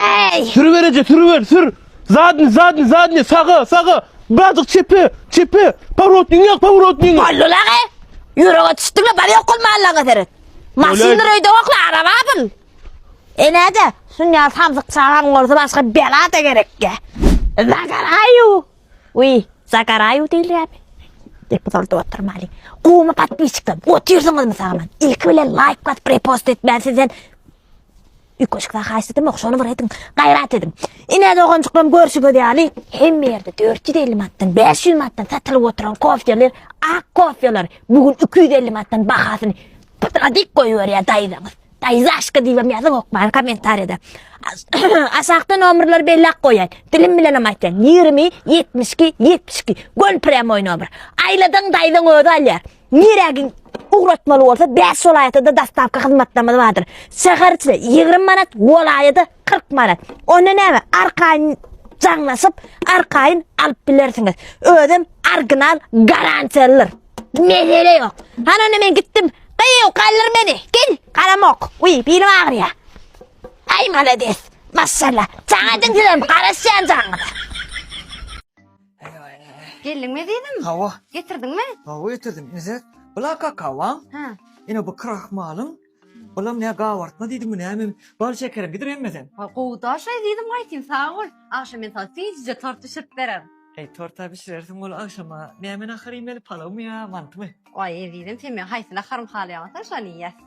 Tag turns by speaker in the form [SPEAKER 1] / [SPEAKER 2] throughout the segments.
[SPEAKER 1] Eý! Sür bereje, sürüber, sür! Zadny, zadny, zadny, saga, saga! Birazjyk çepe, çepe! Powrotnyňy ýak, powrotnyňy! Boldy lagy!
[SPEAKER 2] Ýürege düşdüňle, bar ýok kul mallaňa seret. Maşyndyr öýde ýokla, arabadyr. Enä-de, şuny ýaly samsyk çagaň bolsa başga bela-da gerekge. Zakaraýu! Wiý, Zakaraýu diýilýärmi? Diýip guzardyp oturmaly. Gowumy podpisçikler, otyrsyňyzmy sagaman? Ilki bilen laýk basyp repost etmän sizden Üýtgeşikler haýsy dymok şony bir ediň gaýrat ediň. Ine doganjyklarym görşüňiz ýaly hemme ýerde dört ýüz elli manatdan bäş ýüz manatdan satylyp oturan kofýaly ak kofýalar bu gün iki ýüz elli manatdan bahasyny pytyga dik goýberýär daýzaňyz. Daýzaşka diýibem ýazyň okmaýan kommentariýada. Aşakda nomerleri belläp goýaýyn. Dilim bilenem aýtýan ýigrimi ýetmiş iki ýetmiş iki göl prýamoý nomer. Aýladyň daýzaň özi alýar. Nirä giň ugratmaly bolsa 5 welaýatda daslapky hyzmatlarymyz bardyr. Şäher içinde 20 manat, welaýatda 40 manat. Onda näme? Arkaýyn jaňlaşyp, arkaýyn alyp bilersiňiz. Özem original garantiýalydyr. Mesele ýok. Hany onda men gitdim. Gyýw, galdyr meni. Gel, garamok. Uý, bilim agyrýar. Aý, malades. Maşallah. Çagadan sizem garaşýan jaňyňyza.
[SPEAKER 3] Geldiňmi ezizim? Hawa. Getirdiňmi?
[SPEAKER 4] Hawa
[SPEAKER 3] getirdim. Nizet,
[SPEAKER 4] bula kakaoň. Hä. Ine bu
[SPEAKER 3] krahmalyň.
[SPEAKER 4] Bulam ne gabartma diýdiňmi näme? Bal şekerim gidir hemmeden. Ha, gowy daş ezizim
[SPEAKER 3] aýtyn, sag bol. Agşam men saňa süýjüje tort bişirip bererin. Eý, tort-a bişirersiň
[SPEAKER 4] ol agşama. Näme nahar iýmeli, palawmy ýa mantymy? Aý, ezizim, sen meň
[SPEAKER 3] haýsy naharymy halaýaňa, sen şony iýersiň.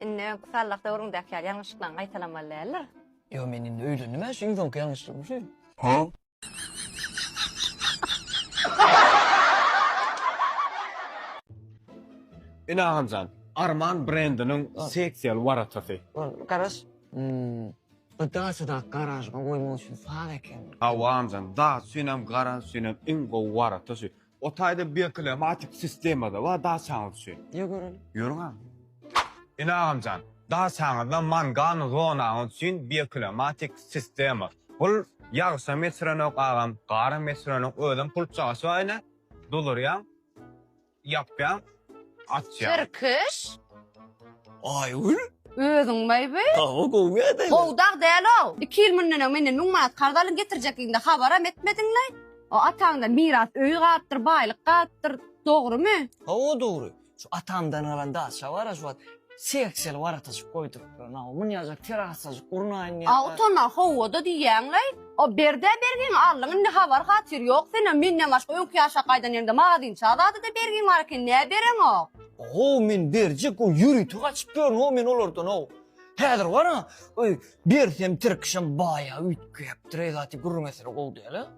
[SPEAKER 3] Indi
[SPEAKER 4] öňki sallah
[SPEAKER 3] döwrüňdäki ýaly ýalňyşlyklaryňy gaýtalamaly däldir? Ýo men indi
[SPEAKER 4] öýlendim a şu iň soňky ýalňyşlygym şu. Huh?
[SPEAKER 1] Ine agamjan, Arman brendiniň seksiýaly waratasy. Garaş.
[SPEAKER 4] Hmmm. Bu daçadaky garažyňa goýmak üçin saz ekeni. Hawa agamjan, daça
[SPEAKER 1] üçinem, garaž üçinem iň gowy warata şu. O taýda bir klimatik sistema-da bar daçaňyz üçin. Ýör göreli. Ýörüň
[SPEAKER 4] agam.
[SPEAKER 1] Ine agamjan, daçaňyzda mangan zonaňyz üçin bir klimatik sistema. Bul ýagşam ýetirenok agam, garam ýetirenok, özem pul çaşyp aýna, doldurýaň, ýapýaň. Atýa. Tirkiş.
[SPEAKER 4] Aýgül. Özüň maý bi.
[SPEAKER 3] Hawa gowy ýa-da.
[SPEAKER 4] Gowy dag däl-ow.
[SPEAKER 3] Iki ýyl münden öň menden müň manat karz alyň getirjekligiňde habaram etmediňlaý. O ataňdan miras öýi galypdyr, baýlyk galypdyr. Dogrymy? Hawa dogry.
[SPEAKER 4] Şu atamdan galan daşa bar-a şu wagt. Selçeli warataşyp goýduryplar nawa munýajak terasajyk gurnaýyn diýen. A utana howada
[SPEAKER 3] diýýäňlaý. O berdä bergiňi aldyň indi habar hatyr ýok senem menden başga öňki ýaşa gaýdan ýeriňde magazynça zadada bergiň bar eken nä bereňok. How men
[SPEAKER 4] berjek o ýörite gaçyp ýörün how men olardan how. Häzir bar a öý bersem tirkişem baýa üýtgäpdir eý zat gürrüň eseri gowy däl a.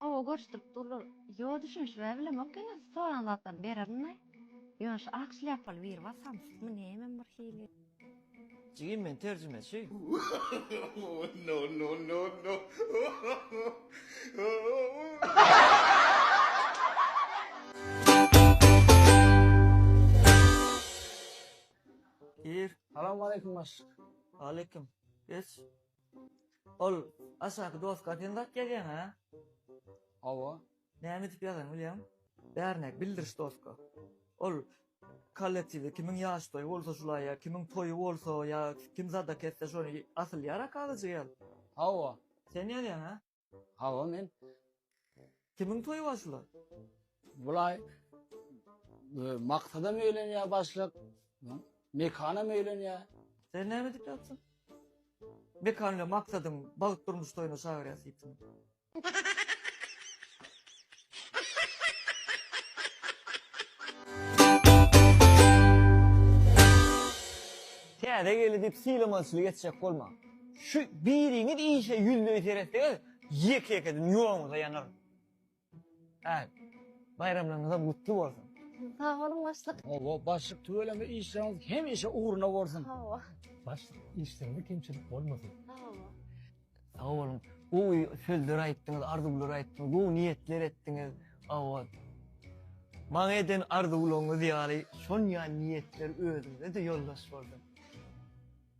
[SPEAKER 3] Gowy görşdürip durlar. Ýo düşünişibä bilemok ýöne soran zatlary bererin-ä. Ýöne şu ak şlýapaly biri bar samsykmy nämem bir hili. Jigim
[SPEAKER 4] men terjimeçi. Gir. Salam aleýkum başlyk. Aleýkum. Geç. Ol aşaky doska sen zat ýazýaň a? Hawa.
[SPEAKER 1] Näme edip
[SPEAKER 4] ýazaň bilýäň? Bärine bildiriş doska. Ol kollektiwde kimiň ýaş toýy bolsa şula ýa kimiň toýy bolsa ýa kim zadak etse şony asylýar a kagyzjygyaz. Hawa.
[SPEAKER 5] Sen ýazýaň a?
[SPEAKER 4] Hawa men. Kimiň toýy bar şulaý? Bulaý
[SPEAKER 5] e, maksada meýlenýär başlyk. Mekana meýlenýär. Sen näme edip ýatsyň?
[SPEAKER 4] Mekanyňa maksadyň bagt durmuş toýuna çagyrýas diýipsiň. Täze gelni diýip sylamaçylyk etjek bolma. Şu biriňiz işe ýüzleý seretseňiz, ýeke-ýekeden ýoguňyza ýanar. Hä, baýramlaryňyzam gutly bolsun! Sag boluň,
[SPEAKER 3] başlyk. Hawa, başlyk tüweleme
[SPEAKER 5] işleriňiz hemişe ugruna bolsun! Hawa. Başlyk,
[SPEAKER 3] işleriňde
[SPEAKER 6] kemçilik bolmasyn! Hawa.
[SPEAKER 3] Sag
[SPEAKER 4] boluň, gowy sözler aýtdyňyz, arzuwlar aýtdyňyz, gowy niýetler etdiňiz. Hawa. Maňa eden arzuwlaryňyz ýaly, şon ýaly niýetler özüňize-de ýoldaş bolsun!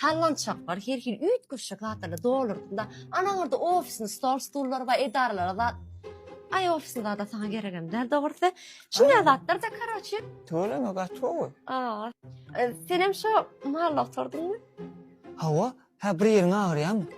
[SPEAKER 3] Sallançaklar her hili üýtgeşik zatlarla doldurdyň-da. Anaňarda ofisiniň stol-stullary bar, edaralary bar. Aý, ofisiň zady-a saňa geregem däl dogrusy. Şunday zatlar-da, karoçi. Tüweleme gaty
[SPEAKER 4] gowy. A-a.
[SPEAKER 3] Senem şo malla oturdyňmy? Hawa.
[SPEAKER 4] Hä, bir ýeriň agyrýamy?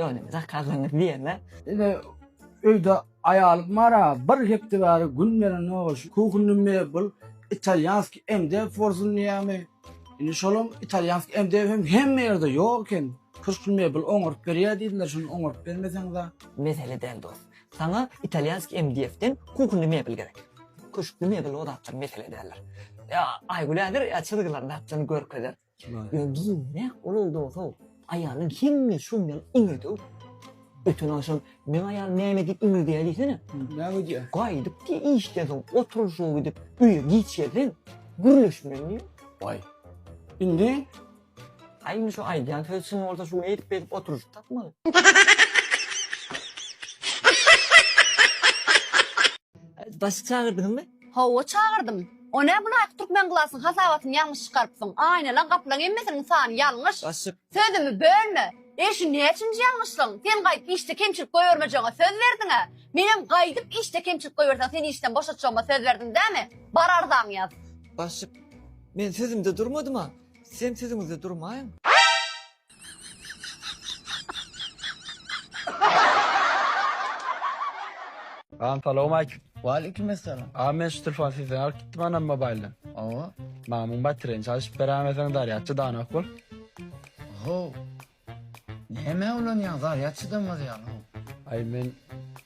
[SPEAKER 4] Ýöne zakazyňyz diýeme. Ine,
[SPEAKER 5] öýde aýalym bar-a, bir hepde bäri gün berenok, şu kuhinny mebel, italýanskiý MDF bolsun diýýärmi. Indi şolam italýanskiý MDF hem hemme ýerde ýok eken. Köşkli mebel oňaryp berýär diýdiler, şony oňaryp bermeseňiz-ä. Mesele däl dost.
[SPEAKER 4] Saňa italýanskiý MDF-den kuhinny mebel gerek. Köşkli mebel o zatlar mesele däldir. Ýa Aýgül ädir, ýa çyzgylaryny atjyny görkezer. Men giňräk bolan dogry, aýalyň hemme şum ýaly iňirdew. Öten agşam meň aýalym näme diýip iňirdeýär diýsene? Näme diýýär?
[SPEAKER 5] Gaýdyp diýýär, işden
[SPEAKER 4] soň oturyşyga gidip, öýe giç gelseň, gürleşmeli diýýär. Waý.
[SPEAKER 5] Indi? A
[SPEAKER 4] indi şu aýdýan sözi çyn bolsa, şu gün eýdip-beýdip oturyşyp tapmaly. Bassyk çagyrdyňmy? Hawa çagyrdym.
[SPEAKER 3] O nä bunaýk türkmen glasyň hasabatyny ýalňyş çykarypsyň. Aýnalaň gapylaň hemmesiniň sany ýalňyş. Başyk. Sözümi
[SPEAKER 4] bölme.
[SPEAKER 3] E şu näçinji ýalňyşlygyň? Sen gaýdyp işde kemçilik goýbermejegňe söz berdiňä. Menem gaýdyp işde kemçilik goýberseň seni işden boşatjagma söz berdim dämi? Bar arzaňy ýaz. Başyk.
[SPEAKER 4] Men sözümde durmadym-a. Sizem sözüňizde durmaýyň.
[SPEAKER 1] Salam salowmaleýkim. Waleýkim essalam. Agam
[SPEAKER 5] men şu telefony
[SPEAKER 1] sizden alyp gitdim anam mobaýldan. Hawa. Maňa
[SPEAKER 5] muň batereýany
[SPEAKER 1] çalyşyp beräýmeseň zarýadçy danak bol. Ho.
[SPEAKER 5] Nämä ulanýaň zarýad çydamaz ýaly ho. Aý men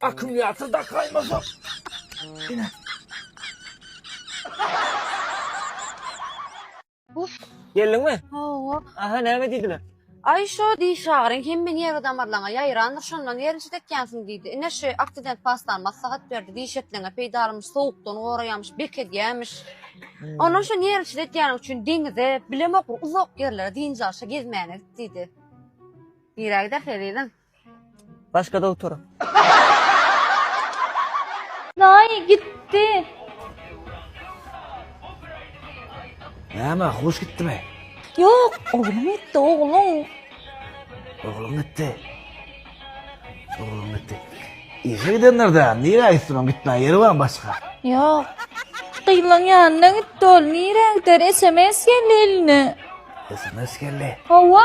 [SPEAKER 5] Akkumulýator
[SPEAKER 4] dakaýmasa. Ine. Geldiňmi? Hawa. Aha näme
[SPEAKER 3] diýdiler?
[SPEAKER 4] Aý şo diý
[SPEAKER 3] şagyryň hemme nerwi damarlaryňa ýaýrandyr şondan nerw çidetýänsiň diýdi. Ine şu aksident pastany maslahat berdi. Diş etleňe peýdalymyş sowukdan goraýamyş, bekedýämiş. Ondan şo nerw çidetýäniň üçin deňize, bilemok bir uzak ýerlere dynç alşa gezmäne git diýdi. Nirä gidersiň ezizim? Başga
[SPEAKER 4] dogtor.
[SPEAKER 3] Daýy gitdi.
[SPEAKER 5] Näme, hoş gitdimi? Ýok,
[SPEAKER 2] ogluň gitdi, ogluň.
[SPEAKER 5] Ogluň gitdi. Ogluň gitdi. Işe gidenler-de, nirä gitsin, oň gitmän ýeri barmy başga? Ýok.
[SPEAKER 2] Gyzlaň ýanyna gitdi ol, nirä gider, sms geldi eline. Sms
[SPEAKER 5] geldi. Hawa.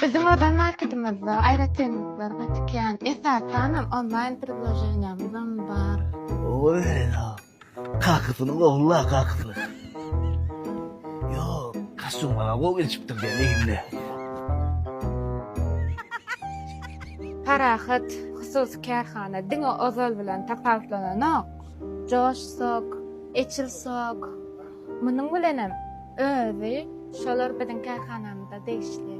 [SPEAKER 7] Biziň ozal marketimizde aýratynlyklar gaty kän. Esasanam onlaýn predloženiýamyzam bar. Oýa,
[SPEAKER 5] kakysyny gowy-la, kakysyny. Ýok, kostyum maňa gowy gelişipdir diýen egnine.
[SPEAKER 7] Parahat hususy kärhana diňe ozal bilen tapawutlananok. Josh sok, Eçil sok, Munuň bilenem özi şolar biziň kärhanamyza degişli.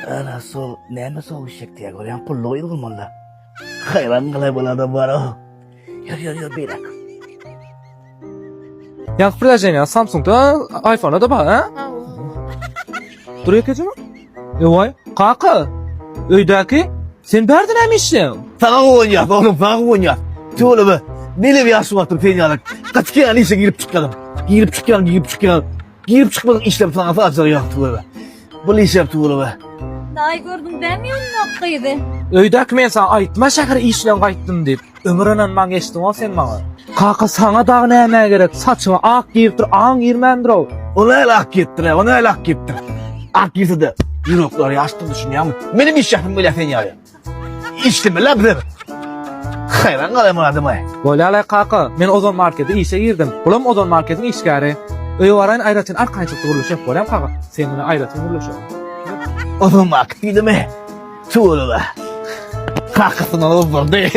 [SPEAKER 5] Ana so, näme so işek diýýär, görýän pullugy ýyl bolmanda. Haýran galay bol adam bar. Ýör ýör ýör beýläk.
[SPEAKER 8] Ýa prilaženiýa Samsung-da, iPhone-da bar, ha? Hawa. Dur ýekeje mi? Ewaý, kaka! Öýdäki, sen bärde näme işleýäň? Saňa guwanýas,
[SPEAKER 5] oglum, saňa guwanýas. Tüweleme, neneň bir ýagşy wagtym sen ýaly. Gaty ýaly işe girip çykýaryn. Girip çykýaryn, girip çykýaryn. Girip çykmadyk işlem saňa saçak ýagşy tüweleme. Bu işem tüweleme. Daýy gördüň
[SPEAKER 2] dämi ýolundaky gyzy? Öýdäki men
[SPEAKER 8] saňa aýtma şähere işleň gaýtdym diýip. Ömür ynanman geçdiňow sen maňa. Kaka saňa dagy näme gerek? Saçyňa ak giripdir, aň girmändir-ow. O näle ak giyipdir,
[SPEAKER 5] o näle ak giyipdir. Ak giyse de yunuklar yaştı düşünýärmi? Benim iş yaşım böyle sen ýaly. İşlemeli bize. Hayran kalayım adama. Bolýar-la kaka,
[SPEAKER 8] men Ozon markete işe girdim. Bulam Ozon marketiň işgäri. Öýe baraýyn aýratyn arkaýynçykda gürleşek bolýam kaka. Sen bilen aýratyn gürleşerin. Ozon
[SPEAKER 5] market diýdimi? Tüweleme. Kakasyndan ozdurdy.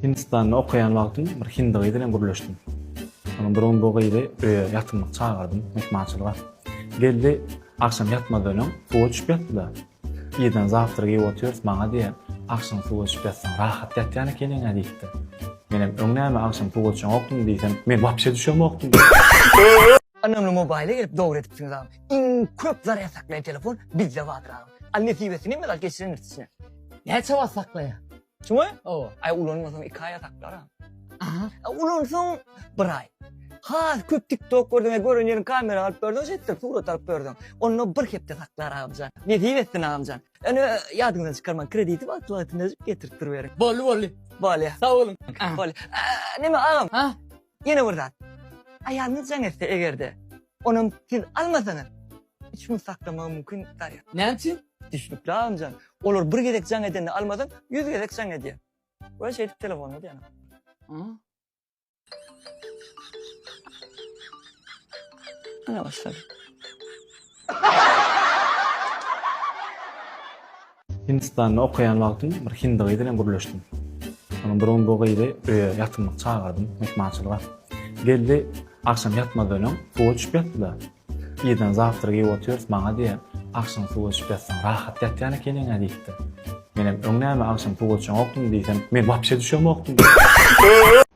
[SPEAKER 8] Hindistanda okaýan wagtym bir hindi gyz bilen gürleşdim. Soň bir gün bu gyzy öýe ýatymlyk çagyrdym, myhmançylyga. Geldi, agşam ýatmazdan öň suwa düşüp ýatdy-da. Irden zawtrak iýip otyrys, maňa diýýär, Agşam suwa düşüp ýatsaň, rahat ýatýan ekeniň-ä diýipdir. Menem, Öň näme, agşam suwa düşeňokdymy diýsem, Men wapşe düşemokdym.
[SPEAKER 4] Önemli mobile gelip dogry edipsiňiz abi. Iň köp zarýad saklaýan telefon bizde bardyr agam. Al nesibesini mysal geçiren içine. Näçe wagt saklaýar? Şumy? Hawa. Aý ulanmasaň iki aýa saklar agam. Aha. A ulansaň bir aý. Has köp TikTok gördüň, gören ýeriň kamera alyp gördüň, şeýtdir, surat alyp gördüň. Onda bir hepde saklar agamjan. Nesip etsin agamjan. Ene ýadyňyzdan çykarmaň, krediti wagtly wagtynda getirip duriberiň. Boldy boldy. Bolýa. Sag boluň. Bolýa. Neme agam? Ha? Ýene bir zat. Aýalyňyz jaň etse eger-de, onam siz almasaňyz, üç gün saklamagy mümkin däl. Näme üçin? Düşnükli agamjan. Olar bir gezek jaň edende almasaň, ýüz gezek jaň edýär. We şeýdip telefony da ýanap. Aa. Ana başlady.
[SPEAKER 8] Hindistanda okaýan wagtym bir hindi gyz bilen gürleşdim. Soňam bir gün bu gyzy öýe ýatymlyk çagardym, myhmançylyga. Geldi, agşam ýatmazdan öň suwa düşüp ýatdy-da. Irden zawtrak iýip otyrys, maňa diýýär, Agşam suwa düşüp ýatsaň rahat ýatýan ekeniň-ä diýipdir. Menem, Öň näme, agşam suwa çomokdym diýsem, men wapşe düşemokdym.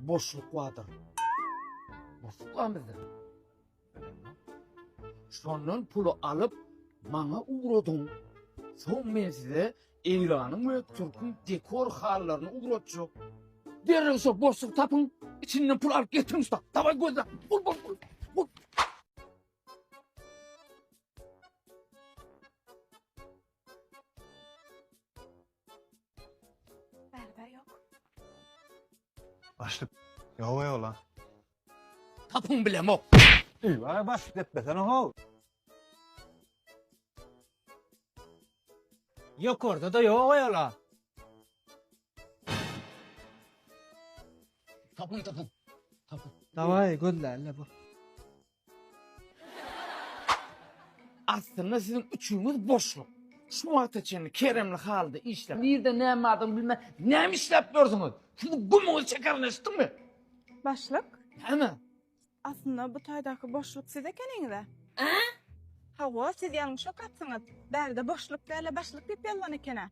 [SPEAKER 5] Boşluk bardyr. Boşluk bar bizde. Şondan puly alyp, maňa ugradyň. Soň men size Eýranyň we Türküň dekor hallaryny ugratjak. Derrew şo boşluk tapyň, içinden pul alyp getiriň usta. Daway gözle. Bul bul bul. Bul.
[SPEAKER 7] Bärde ýok. Başlyk.
[SPEAKER 9] Ýok ýok lan.
[SPEAKER 5] Tapyň bilemok. Üý, ara başlyk
[SPEAKER 1] depbesene how.
[SPEAKER 10] Ýokarda da ýok ýala.
[SPEAKER 5] Tapyň tapyň. Tapyň.
[SPEAKER 10] Dawai gözle elle bu.
[SPEAKER 5] Aslynda siziň üçüňiz boşluk. Şu wagta çenli keremli halda işläp, nirde näme bardygyny bilmän näme işläp ýörsüňiz? Siziň gumuňyz çekerin eşitdiňmi? Başlyk.
[SPEAKER 7] Näme?
[SPEAKER 5] Aslynda
[SPEAKER 7] bu taýdaky boşluk siz ekeniňiz-ä? Hawa, siz ýalňyşyk gapsyňyz. Bärde boşluk däl-de başlyk diýip ýazylan eken-ä.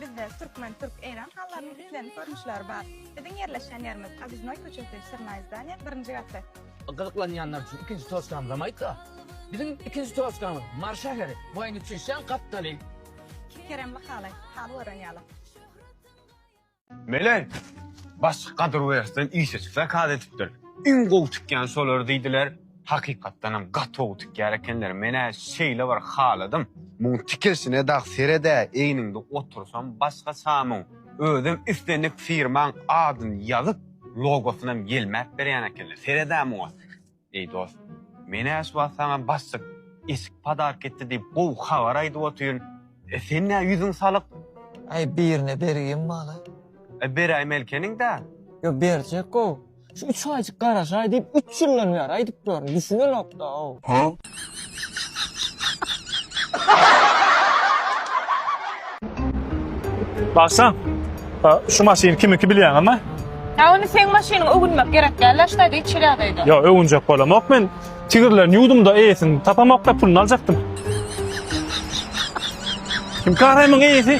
[SPEAKER 7] Bizde türkmen, türk, eýran halylarynyň islendik görnüşleri bar. Biziň ýerleşýän ýerimiz, Obiznoý köçesi, Syrnaý zdaniýa, birinji gatda. Gyzyklanýanlar
[SPEAKER 5] üçin ikinji toçkamyzam aýtsa. Biziň ikinji toçkamyz, Mary şäheri, boýny çüýşýän gapdaly. Keremli
[SPEAKER 7] haly, haly gören ýaly.
[SPEAKER 1] Meleý, başlyk Gadyrwertden işeçi zakaz edipdir. Iň gowy tikýän şolar diýdiler. Hakykatdanam gaty gowy tikýär ekenler. Men-ä şeýle bir haladym. Muň tikilşine dag sered-ä, egniňde otursam başga çamuň. Özem islendik firmaň adyny ýazyp, logosynam ýelmäp berýän ekenler. Sered-ä muňa. Eý dost, men äş wagt saňa bassyk, eşik padark etdi diýip gowy habar aýdyp otyryn, e sen nä ýüzüň salyk? Aý, birine
[SPEAKER 4] bergim bala. E beräý
[SPEAKER 1] Melkeniň-dä. Ýo, berjek-ow.
[SPEAKER 4] Şu üç aýjyk garaşaý diýip üç ýyldan bäri aýdyp ýörün, düşünenok-da-ow. Hä?
[SPEAKER 8] Bagşam, şu maşyn kimiki bilýäň ama? Ýa ony seň
[SPEAKER 7] maşynyňy öwünmek gerek däl da, ştaýda hiç hili ýagdaýda. Ýok, öwünjek bolamok
[SPEAKER 8] men. Tigirlerini ýuwdum-da, eýesini tapamok-da, puluny aljakdym. Kim Kahremyň eýesi?